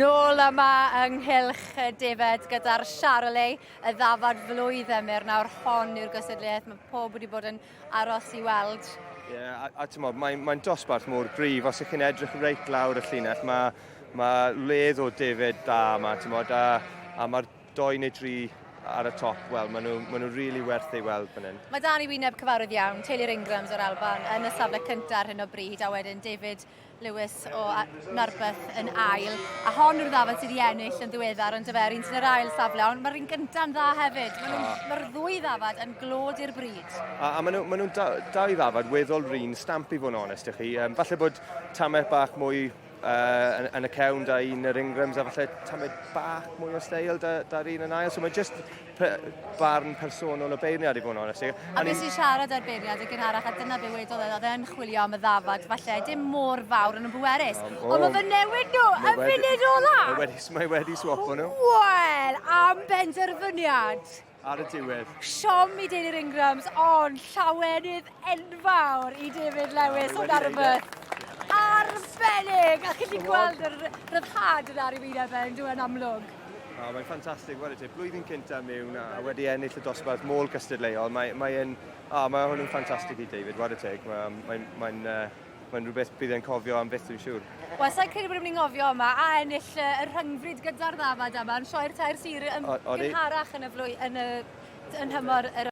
Nôl yma yng nghylch y defaid gyda'r Charolais, y ddafad flwydd emyr nawr hon i'r gystadleuaeth. Mae pob wedi bod yn aros i weld. Ie, yeah, a, a ti'n modd, mae'n mae dosbarth mor gryf. Os ych chi'n edrych reit lawr y llinell, mae, mae ledd o defaid da yma, ti'n modd, a, a mae'r Doi neu dri ar y top, wel, maen nhw, maen nhw really werth ei weld fan hyn. Mae dan i wyneb cyfarwydd iawn, teulu'r Ingrams o'r Alban yn y safle cyntaf ar hyn o bryd, a wedyn David Lewis o Narberth yn ail. A hon yw'r ddafod sydd wedi ennill yn ddiweddar yn dyfer, un sy'n yr ail safle, ond mae'r un gyntaf yn dda hefyd. Mae'r ah. ma ddwy ddafod yn glod i'r bryd. A, a maen nhw'n ma nhw dau ddafod weddol run stamp i fod yn onest i chi. Um, falle bod tamau bach mwy uh, yn y cefn da un yr ingrams a falle tymud bach mwy o steil da, da'r un yn ail. So mae jyst barn personol o beirniad i fod yn onest. A beth sy'n siarad ar beirniad y gynharach a dyna be wedodd e, oedd e'n chwilio am y ddafad, falle dim mor fawr yn y bwerus. Um, oh, Ond mae fy newid nhw y funud ola! Mae wedi, mae wedi swapo nhw. Wel, am benderfyniad! ar y diwedd. Siom i deulu'r Ingrams, ond llawenydd enfawr i David Lewis o Narberth. Arbennig! A chi wedi gweld yr rhyddhad yna ar ei wyneb fe, yn dweud amlwg. Oh, mae'n ffantastig, wedi ti, blwyddyn cynta mewn a wedi ennill y dosbarth môl gystadleuol. Mae, mae, yn, oh, mae hwn yn ffantastig i David, wedi teg. Mae'n mae, mae, uh, Mae'n rhywbeth bydd e'n cofio am byth dwi'n siŵr. Wel, sa'n credu bod ni'n mynd i ngofio yma a ennill y rhyngfryd gyda'r ddafad yma yn sioi'r tair sir yn gynharach yn y flwyddyn yn y yn nhymor yr